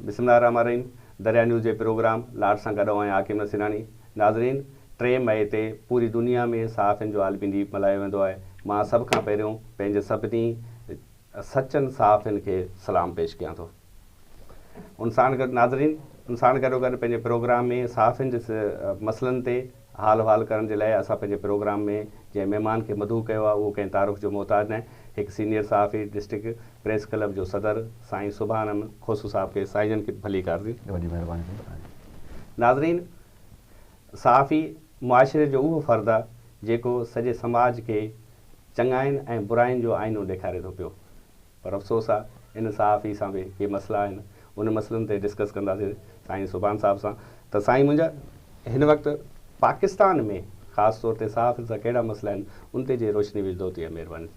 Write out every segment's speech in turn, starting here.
بسم الله الرحمٰن الرحيم دريا نيوز جي پروگرام لاڙ سان گڏ آهيان حاڪم نصيراڻي ناظرين ٽي مئي تي پوري دنيا ۾ صحافين جو عالمي ڏينهن ملهايو ويندو آهي مان سڀ کان پهريون پنهنجي سڀني سچن صحافين کي سلام پيش ڪيان ٿو ان ساڻ گڏ ناظرين ان ساڻ گڏو گڏ پنهنجي پروگرام ۾ صحافين جي مسئلن تي حال و حال ڪرڻ جي لاء اسان پنهنجي پروگرام ۾ جنهن مهمان کي مدعو ڪيو آهي اهو ڪنهن تعارف جو محتاج ناهي، هڪ سينيئر صحافي ڊسٽرڪٽ پريس ڪلب جو صدر سائين سڀاڻن کوسو صاحب کي سائين جن کي ڀليڪار ٿي. وڏي مهرباني ٿيندو سائين جي. ناظرين! صحافي معاشري جو اهو فرد آهي جيڪو سڄي سماج کي چڱاين ۽ براين جو آئينو ڏيکاري ٿو پيو. پر افسوس آ ان صحافي سان به ڪي مسئلا آهن ان مسئلن تي ڊسڪس ڪنداسين سائين سبحان صاحب سان ته سائين منهنجا هن وقت پاڪستان ۾ خاص طور تي صحافين سان ڪهڙا مسئلا آهن ان تي جي روشني وجهدو ته مهرباني.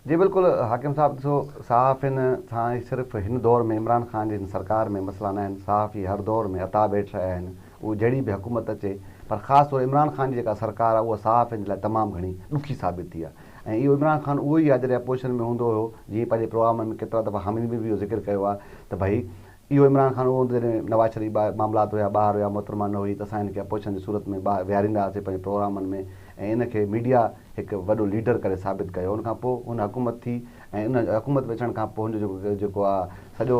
جي بلڪل حاڪم صاحب ڏسو صحافين سان صرف هن دور ۾ عمران خان جي هن سرڪار ۾ مسئلا ناهن صحافي هر دور ۾ عطا بيٺ رهيا آهن اهو جهڙي به حڪومت اچي پر خاص طور عمران خان جي جيڪا سرڪار آهي اها صحافين جي لاء تمام گهڻي ڏکي ثابت ٿي آهي ۽ اهو عمران خان اهو ئي آهي جڏهن اپوزيشن ۾ هوندو هيو جيئن پنهنجي پروگرامن ۾ ڪيترا دفعا حامد مير به اهو ذڪر ڪيو آهي ته ڀئي اهو عمران خان اهو هوندو جڏهن نواز شريف ٻاهر معاملات هيا ٻاهر هيا محترمه نه هئي ته اسان هن کي اپوزيشن جي صورت ۾ ٻاهر ويهاريندا هئاسين پنهنجي پروگرامن ۾ ۽ ان کي ميڊيا هڪ وڏو ليڊر ڪري ثابت ڪيو ان کان پوء هن حڪومت ٿي ۽ ان حڪومت ۾ اچڻ کان پوء هن جو جيڪو آ سڄو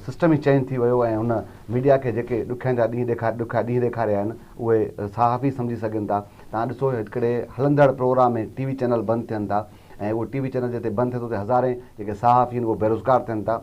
سسٽم ئي چينج ٿي ويو ۽ هن ميڊيا کي جيڪي ڏکين جا ڏينهن ڏيکار ڏکيا ڏينهن ڏيکاريا آهن اهي صحافي سمجهي سگهن ٿا توهان ڏسو هڪڙي هلندڙ پروگرام ۾ ٽي وي چينل بند ٿين ٿا ۽ اهو ٽي وي چينل جتي بند ٿئي ٿو اتي هزارين جيڪي صحافي آهن اهي بيروزگار ٿين ٿا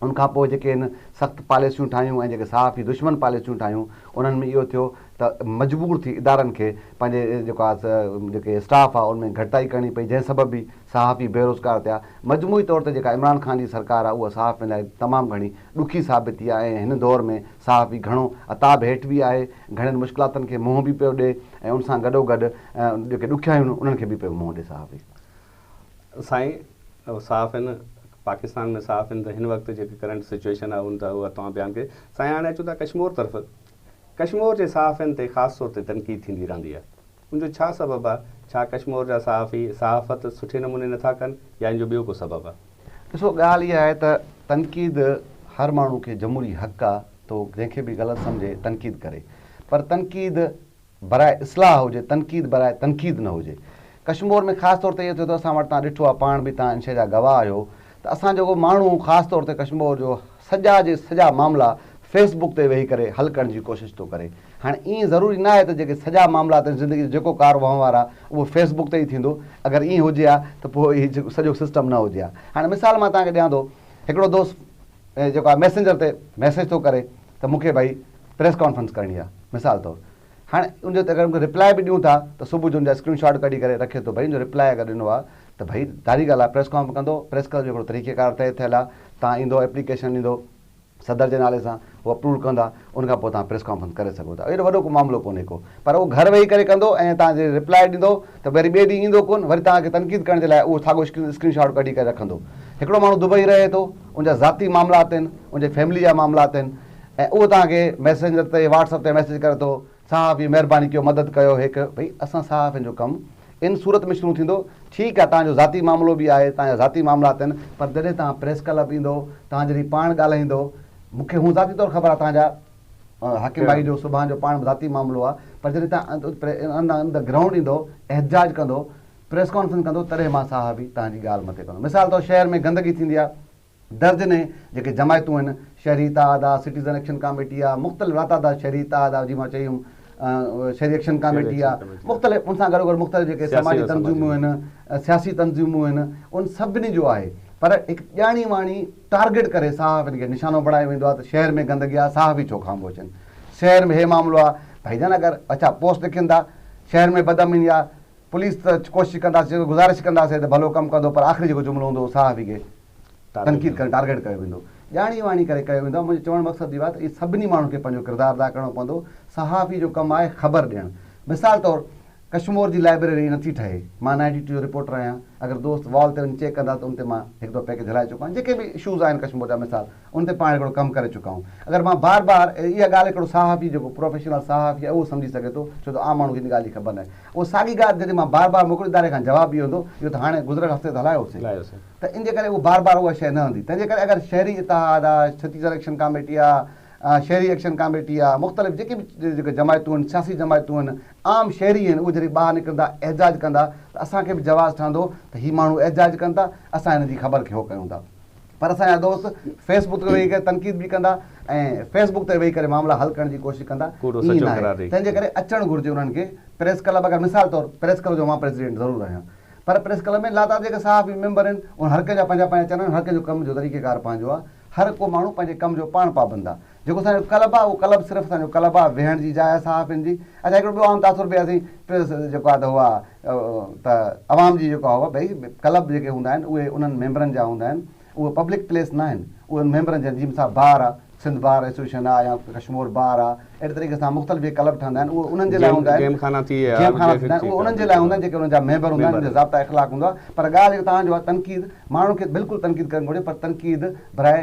ان کان پوء جيڪي هن سخت پاليسيون ٺاهيون ۽ جيڪي صحافي دشمن پاليسيون ٺاهيون انهن ۾ اهو ٿيو ته مجبور ٿي ادارن کي پنهنجي جيڪو آ سا جيڪي اسٽاف آ ان ۾ گهٽتائي ڪرڻي پئي جنهن سبب به صحافي بيروزگار ٿيا مجموعي طور تي جيڪا عمران خان جي سرڪار آ اها صحافين لاء تمام گهڻي ڏکي ثابت ٿي آ ۽ هن دور ۾ صحافي گهڻو عتاب هيٺ به آهي گهڻين مشڪلاتن کي منهن به پيو ڏي ۽ ان سان گڏوگڏ جيڪي ڏکيائيون انهن کي به پيو منهن ڏي صحافي. سائين صحافين پاڪستان ۾ صحافين ته هن وقت جيڪي ڪرنٽ سچويشن آهي ان ته اها توهان بيان ڪئي سائين هاڻي اچون ٿا ڪشمور طرف ڪشمور جي صحافين تي خاص طور تي تنقيد ٿيندي رهندي آهي ان جو ڇا سبب آهي ڇا ڪشمور جا صحافي صحافت سٺي نموني نٿا ڪن يا ان جو ٻيو ڪو سبب آهي. ڏسو ڳالهه اها آهي ته تنقيد هر ماڻهو کي جمهوري حق آهي تو جنهن کي به غلط سمجهي تنقيد ڪري پر تنقيد براء اصلاح هجي، تنقيد براء تنقيد نه هجي. ڪشمور ۾ خاص طور تي اهو ٿيو ته اسان وٽ تان ڏٺو آهي، پاڻ به تان ان شيء جا گواهه آهيو ته اسان جيڪو ماڻهو خاص طور تي ڪشمور جو سڄا جي سڄا معاملا فيس بڪ تي ويهي ڪري حل ڪرڻ جي ڪوشش ٿو ڪري. هاڻي ائين ضروري ناهي ته جيڪي سڄا معاملا تن زندگي جو جيڪو ڪار وهنوار آهي اهو فيس بڪ تي ئي ٿيندو. اگر ائين هجي ها ته پوء هي سڄو سسٽم نه هجي ها. هاڻي مثال مان توهان کي ڏيان ٿو، هڪڙو دوست جيڪو آهي ميسنجر تي ميسيج ٿو ڪري ته مون کي ڀئي پريس ڪانفرنس ڪرڻي آ مثال طور هاڻ ان جو اگر انکي ريپلائي به ڏيون ٿا ته صبح جو ان جا اسڪرين شاٽ ڪڍي ڪري رکي ٿو ڀئي ان جو ريپلائي اگر ڏنو آ ته ڀئي ظاهري ڳالهه آ پريس ڪانف ڪندو پريس ڪلب جو هڪڙو طريقي ڪار طئي ٿيل آ تان ايندو ايپليڪيشن ڏيندو صدر جي نالي سان هو اپروول ڪندا ان کان پوء تان پريس ڪانفرنس ڪري سگهو ٿا اهڙو وڏو ڪو معاملو ڪونهي ڪو پر هو گهر ويهي ڪري ڪندو ۽ تان جي ريپلائي ڏيندو ته وري ٻئي ڏينهن ايندو ڪون وري تان کي تنقيد ڪرڻ جي لاء اهو ساڳو اسڪرين شاٽ ڪڍي ڪري رکندو هڪڙو ماڻهو دبئي رهي ٿو ان جا ذاتي معاملات آهن ان جي فيملي جا معاملات آهن ۽ اهو توهان کي ميسينجر تي واٽس اپ تي ميسيج ڪري ٿو صحافي مهرباني ڪيو مدد ڪيو هيڪ ڀئي اسان صحافين جو ڪم ان صورت ۾ شروع ٿيندو ٺيڪ آهي توهان جو ذاتي معاملو به آهي توهان جا ذاتي معاملا اٿن پر جڏهن توهان پريس ڪلب ايندو توهان جڏهن پاڻ ڳالهائيندو مون کي هون ذاتي طور خبر آهي توهان جا حاڪم ڀائي جو سبحان جو پاڻ ذاتي معاملو آهي پر جڏهن توهان ان ده گرائونڊ ايندو احتجاج ڪندو پريس ڪانفرنس ڪندو تڏهن مان صحافي توهان جي ڳالهه مٿي ڪندو مثال طور شهر ۾ گندگي ٿيندي آهي درجنين جيڪي جماعتون آهن، شهري اتحاد آ، سٽيزن ايڪشن ڪاميٽي آ، مختلف راتادا شهري اتحاد آ جي مان چئي هيم، شهري ايڪشن ڪاميٽي آ، مختلف ان سان گڏو گڏ مختلف جيڪي سماجي تنظيمون آهن، سياسي تنظيمون آهن، ان سڀني جو آهي پر هڪ ڄاڻي واڻي ٽارگيٽ ڪري صحافين کي نشانو بڻايو ويندو آ ته شهر ۾ گندگي آ صحافي ڇو خاموش آهن، شهر ۾ هي معاملو آ، ڀائي جان اگر اڇا پوسٽ لکين ٿا، شهر ۾ بدامني آ، پوليس ته ڪوشش ڪنداسين، گذارش ڪنداسين ته ڀلو ڪم ڪندو پر آخري جيڪو جملو هوندو اهو صحافي کي تنقيد ڪرڻ ٽارگيٽ ڪيو ويندو. ڄاڻي واڻي ڪري ڪيو ويندو آهي. منهنجو چوڻ مقصد اهو آهي ته اهي سڀني ماڻهن کي پنهنجو ڪردار ادا ڪرڻو پوندو. صحافي جو ڪم آهي خبر ڏيڻ. مثال طور ڪشمور جي لائبريري ائين نٿي ٺهي. مان نائنٽي ٽو جو رپورٽر آهيان. اگر دوست وال تي وڃي چيڪ ڪندا ته ان تي مان هڪ دفعو پيڪيج هلائي چڪو آهيان. جيڪي به اشوز آهن ڪشمور جا مثال. ان تي پاڻ هڪڙو ڪم ڪري چڪا آهيون. اگر مان بار بار اها ڳالهه هڪڙو صحافي جيڪو پروفيشنل صحافي آهي اهو سمجهي سگهي ٿو ڇو ته عام ماڻهو کي ان ڳالهه جي خبر ناهي اهو ساڳي ڳالهه جڏهن مان بار بار موڪل اداري کان جواب اهو ايندو اهو ته هاڻي گذريل هفتي ته هلايو هوسي ته ان جي ڪري اهو بار بار اها شيء نه هندي تنهن جي ڪري اگر شهري اتحاد آ ڇتيسر ايڪشن ڪاميٽي آ شهري ايڪشن ڪاميٽي آ مختلف جيڪي به جيڪي جماعتون هن سياسي جماعتون هن عام شهري هن اهي جڏهن ٻاهر نڪرندا احجاج ڪندا ته اسان کي به جواز ٺهندو ته هي ماڻهو احجاج ڪن ٿا اسان هن جي خبر کي هو ڪيون ٿا. پر اسان جا دوست فيس بڪ تي ويهي ڪري تنقيد به ڪندا ۽ فيس بڪ تي ويهي ڪري معاملا حل ڪرڻ جي ڪوشش ڪندا ائين نه آهي تنهن جي ڪري اچڻ گهرجي انهن کي پريس ڪلب اگر مثال طور پريس ڪلب جو مان پريزيڊنٽ ضرور آهيان پر پريس ڪلب ۾ لاتعداد جيڪي صحافي ميمبر آهن ان هر ڪنهن جا پنهنجا پنهنجا چئنل آهن هر ڪنهن جو ڪم جو طريقيڪار پنهنجو آهي هر ڪو ماڻهو پنهنجي ڪم جو پاڻ پابند آهي جيڪو اسان جو ڪلب آ اهو ڪلب صرف اسان جو ڪلب آ ويهڻ جي جاء آ صحافين جي اڇا هڪڙو ٻيو عام تاثر به اسين پريس جيڪو آ ته هو آ ته عوام جي جيڪو آ هو ڀئي ڪلب جيڪي هوندا آهن اهي انهن ميمبرن جا هوندا آهن اهي پبلڪ پليس ناهن اهي ان ميمبرن جا جي مثال بار آ سنڌ بار ايسوسيئشن آ يا ڪشمور بار آ اهڙي طريقي سان مختلف جيڪي ڪلب ٺهندا آهن اهي انهن جي لاء هوندا آهن جيم خانا ٿي ويا جيم خانا ٿيندا آهن اهي انهن جي لاء هوندا آهن جيڪي انهن جا ميمبر هوندا آهن انهن جو ضابطا اخلاق هوندو آ پر ڳالهه جيڪو توهان جو آ تنقيد ماڻهن کي بلڪل تنقيد ڪرڻ گهرجي پر تنقيد براء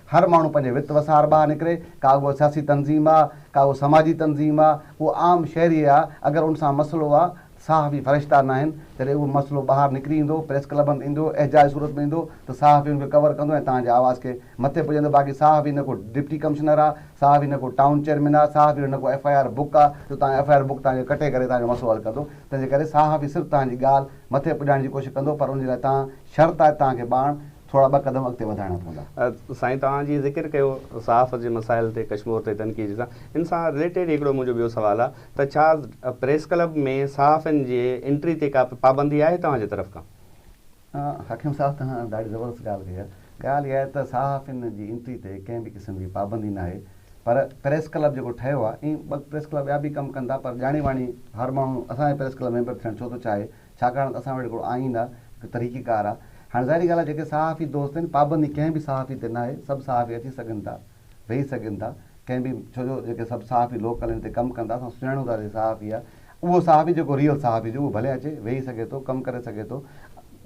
هر ماڻهو پنهنجي وت وسار ٻاهر نڪري، ڪا اهو سياسي تنظيم آ، ڪا اهو سماجي تنظيم آ، اهو عام شهري آ، اگر ان سان مسئلو آ، صحافي فرشتا ناهن، جڏهن اهو مسئلو ٻاهر نڪري ايندو، پريس ڪلبن ۾ ايندو، احجاجي صورت ۾ ايندو ته صحافي ان کي ڪور ڪندو ۽ توهان جي آواز کي مٿي پڄندو، باقي صحافي نه ڪو ڊپٽي ڪمشنر آ، صحافي نه ڪو ٽائون چيئرمين آ، صحافي نه ڪو ايف آء آر بڪ آ جو توهان ايف آء آر بڪ توهان جي ڪٽي ڪري توهان جو مسئلو حل ڪندو، تنهنجي ڪري صحافي صرف توهان جي ڳالهه مٿي پڄائڻ جي ڪوشش ڪندو پر ان جي لاء توهان شرط آ ته توهان کي ٻاڻ ٿورا ٻه قدم اڳتي وڌائڻا پوندا. سائين توهان جي ذڪر ڪيو صحافت جي مسائل تي ڪشمور تي تنقيد سان ان سان رليٽيڊ هڪڙو منهنجو ٻيو سوال آ ته ڇا پريس ڪلب ۾ صحافين جي انٽري تي ڪا پابندي آهي توهان جي طرف کان؟ حڪيم صاحب توهان ڏاڍي زبردست ڳالهه ڪئي آ ڳالهه اها آهي ته صحافين جي انٽري تي ڪنهن به قسم جي پابندي ناهي پر پريس ڪلب جيڪو ٺهيو آ ائين ٻه پريس ڪلب ٻيا به ڪم ڪن ٿا پر ڄاڻي واڻي هر ماڻهو اسان جي پريس ڪلب ميمبر ٿيڻ ڇو ٿو چاهي ڇاڪاڻ ته اسان وٽ هڪڙو آئين آ، هڪ طريقه ڪار آ. هاڻي ظاهري ڳالهه آ جيڪي صحافي دوست آهن، پابندي ڪنهن به صحافي تي ناهي، سڀ صحافي اچي سگهن ٿا، ويهي سگهن ٿا، ڪنهن به ڇو جو جيڪي سڀ صحافي لوڪل آهن، هتي ڪم ڪن ٿا، اسان سڃاڻون ٿا ته هي صحافي آ. اهو صحافي جيڪو ريئل صحافي هجي اهو ڀلي اچي، ويهي سگهي ٿو، ڪم ڪري سگهي ٿو.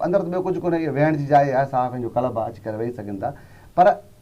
اندر ته ٻيو ڪجهه ڪونهي، اهي ويهڻ جي جاء آهي، صحافين جو ڪلب آ، اچي ڪري ويهي سگهن ٿا. پر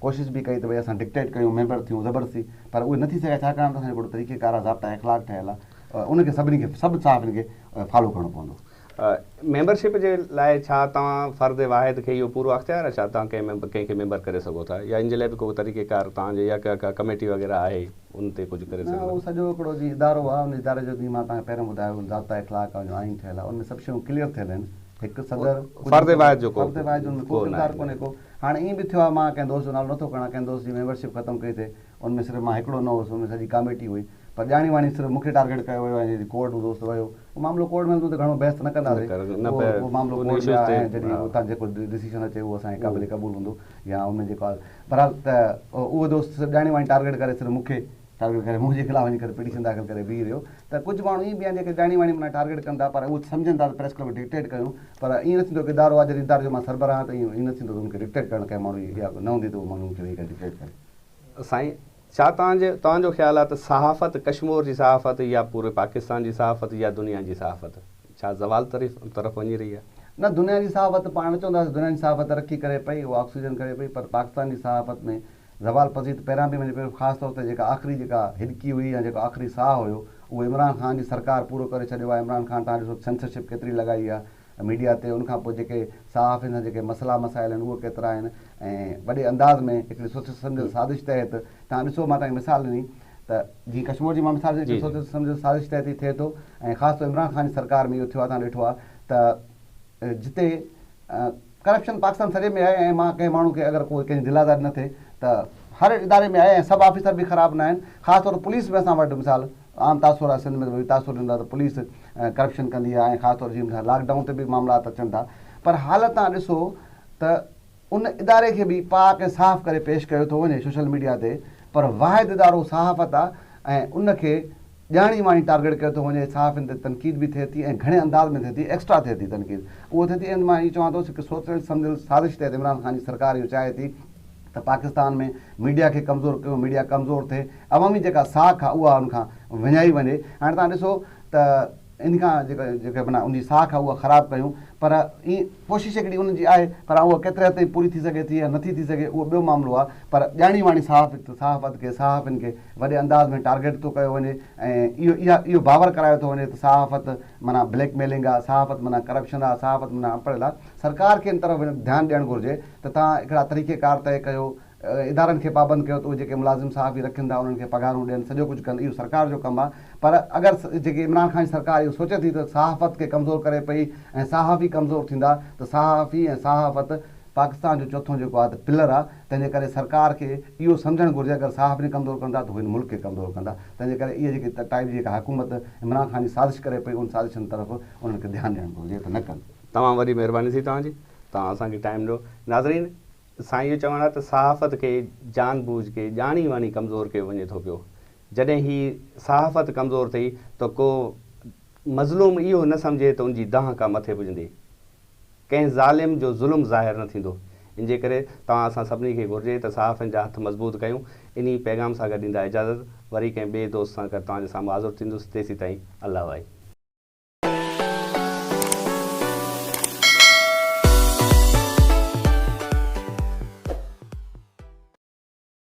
ڪوشش به ڪئي ته ڀئي اسان ڊڪٽيٽ ڪيون، ميمبر ٿيون زبردستي پر اهي نه ٿي سگهيا ڇاڪاڻ ته اسان جو هڪڙو طريقه ڪار آهي، ضابطا اخلاق ٺهيل آهي، ان کي سڀني کي سڀ صحافين کي فالو ڪرڻو پوندو. ميمبر شپ جي لاء ڇا توهان فرد واحد کي اهو پورو اختيار آهي ڇا توهان ڪنهن کي ميمبر ڪري سگهو ٿا يا ان جي لاء به ڪو طريقه ڪار توهان جي يا ڪا ڪميٽي وغيره آهي ان تي ڪجهه ڪري سگهندا. نه اهو سڄو هڪڙو جي ادارو آهي ان اداري جو جيئن مان توهان کي پهريون ٻڌايو ضابطا اخلاق آهي آئين ٺهيل آهي ان ۾ سڀ شيون ڪليئر ٿيل آهن هڪ صدر فرد واحد جو ڪو فرد واحد جو ان ۾ ڪو ڪردار ڪونهي ڪو. هاڻي ائين به ٿيو آهي مان ڪنهن دوست جو نالو نٿو کڻان، ڪنهن دوست جي ميمبر شپ ختم ڪئي ٿي، ان ۾ صرف مان هڪڙو نه هوس، ان ۾ سڄي ڪاميٽي هئي، پر ڄاڻي واڻي صرف مون کي ٽارگيٽ ڪيو ويو ۽ جڏهن ڪورٽ ۾ دوست ويو، اهو معاملو ڪورٽ ۾ هلندو ته گهڻو بحث ته نه ڪنداسين، اهو معاملو ڪورٽ ۾ آهي ۽ جڏهن اتان جيڪو ڊسيشن اچي اهو اسان جي قابل قبول هوندو يا ان ۾ جيڪو آهي، بهرحال ته اهو دوست صرف ڄاڻي واڻي ٽارگيٽ ڪري صرف مون کي. ٽارگيٽ ڪري مون جي خلاف وڃي ڪري پٽيشن داخل ڪري بيهي رهيو ته ڪجهه ماڻهو ائين به آهن جيڪي ٻياڻي واڻي منا ٽارگيٽ ڪن ٿا پر اهو سمجهن ٿا ته پريس ڪلب کي ڊڪٽيٽ ڪيون پر ائين نه ٿيندو هڪ ادارو آهي جڏهن اداري جو مان سربراهه آهيان ته ائين نه ٿيندو ته ان کي ڊڪٽيٽ ڪرڻ ڪنهن ماڻهو جي اها نه هوندي ته اهو ماڻهو ان کي ويهي ڪري ڊڪٽيٽ ڪري. سائين ڇا توهان جي توهان جو خيال آهي ته صحافت ڪشمور جي صحافت يا پوري پاڪستان جي صحافت يا دنيا جي صحافت ڇا زوال طرف طرف وڃي رهي آهي؟ نه دنيا جي صحافت پاڻ چونداسين دنيا جي صحافت ترقي ڪري پئي اها آڪسيجن ڪري پئي پر پاڪستان جي صحافت ۾ زوال پذير ته پهريان به وڃي پيو، خاص طور تي جيڪا آخري جيڪا هڏڪي هئي يا جيڪو آخري ساهه هيو، اهو عمران خان جي سرڪار پورو ڪري ڇڏيو آهي. عمران خان توهان ڏسو سينسرشپ ڪيتري لڳائي آهي ميڊيا تي، ان کان پوء جيڪي صحافين سان جيڪي مسئلا مسائل آهن اهي ڪيترا آهن ۽ وڏي انداز ۾ هڪڙي سوچيل سمجهيل سازش تحت توهان ڏسو مان توهان کي مثال ڏني ته جيئن ڪشمور جي مان مثال ڏني ته سوچيل سمجهيل سازش تحت ئي ٿئي ٿو ۽ خاص طور عمران خان جي سرڪار ۾ اهو ٿيو آهي توهان ڏٺو آهي ته جتي ڪرپشن پاڪستان سڄي ۾ آهي ۽ مان ڪنهن ماڻهو کي اگر ڪو ڪنهن جي دل آزاري نه ٿئي ته هر اداري ۾ آهي ۽ سڀ آفيسر به خراب نه آهن خاص طور پوليس ۾ اسان وٽ مثال عام تاثر آهي سنڌ ۾ ته تاثر ڏيندو آهي ته پوليس ڪرپشن ڪندي آهي ۽ خاص طور جي مثال لاڪ ڊائون تي به معاملات اچن ٿا پر حالت تان ڏسو ته ان اداري کي به پاڪ ۽ صاف ڪري پيش ڪيو ٿو وڃي سوشل ميڊيا تي پر واحد ادارو صحافت آهي ۽ ان کي ڄاڻي واڻي ٽارگيٽ ڪيو ٿو وڃي، صحافين تي تنقيد به ٿئي ٿي ۽ گهڻي انداز ۾ ٿئي ٿي، ايڪسٽرا ٿئي ٿي تنقيد، اهو ٿئي ٿي ۽ مان اهو چوان ٿو هڪ سوچيل سمجهيل سازش تحت عمران خان جي سرڪار اهو چاهي ٿي ته پاڪستان ۾ ميڊيا کي ڪمزور ڪيون، ميڊيا ڪمزور ٿئي، عوامي جيڪا ساک آهي اها ان کان وڃائي وڃي، هاڻي توهان ڏسو ته ان کان جيڪا جيڪا معنيٰ ان جي ساک آهي اها خراب ڪيون پر اهي ڪوشش هڪڙي ان جي آهي پر هاڻ اها ڪيتري حد تائين پوري ٿي سگهي ٿي يا نٿي ٿي سگهي اهو ٻيو معاملو آهي پر ڄاڻي واڻي صحافت صحافت کي صحافين کي وڏي انداز ۾ ٽارگيٽ ٿو ڪيو وڃي ۽ اهو اهو باور ڪرايو ٿو وڃي ته صحافت معنيٰ بليڪ ميلنگ آ، صحافت معنيٰ ڪرپشن آ، صحافت معنيٰ اڻپڙهيل آ، سرڪار کي ان طرف وڃڻ ڌيان ڏيڻ گهرجي ته توهان هڪڙا طريقي ڪار طئي ڪيو، ادارن کي پابند ڪيو ته اهي جيڪي ملازم صحافي رکين ٿا انهن کي پگهارون ڏين سڄو ڪجهه ڪن اهو سرڪار جو ڪم آ پر اگر جيڪي عمران خان جي سرڪار اهو سوچي ٿي ته صحافت کي ڪمزور ڪري پئي ۽ صحافي ڪمزور ٿيندا ته صحافي ۽ صحافت پاڪستان جو چوٿون جيڪو آ ته پلر آ تنهن جي ڪري سرڪار کي اهو سمجهڻ گهرجي اگر صحافين کي ڪمزور ڪندا ته هو هن ملڪ کي ڪمزور ڪندا تنهن جي ڪري اهي جيڪي ٽائيپ جي جيڪا حڪومت عمران خان جي سازش ڪري پئي ان سازشن طرف انهن کي ڌيان ڏيڻ گهرجي ته نه ڪن. تمام وڏي مهرباني ٿي توهان جي توهان اسان کي ٽائيم ڏنو ناظرين سان اهو چوڻ آهي ته صحافت کي جان بوجھ کي ڄاڻي واڻي ڪمزور ڪيو وڃي ٿو پيو جڏهن هي صحافت ڪمزور ٿئي ته ڪو مظلوم اهو نه سمجهي ته ان جي دانهن ڪا مٿي پڄندي ڪنهن ظالم جو ظلم ظاهر نه ٿيندو، ان جي ڪري توهان اسان سڀني کي گهرجي ته صحافين جا هٿ مضبوط ڪيون، انهي پيغام سان گڏ ڏيندا اجازت، وري ڪنهن ٻئي دوست سان گڏ توهان جي سامهون حاضر ٿيندس، تيسيتائين الله وائي.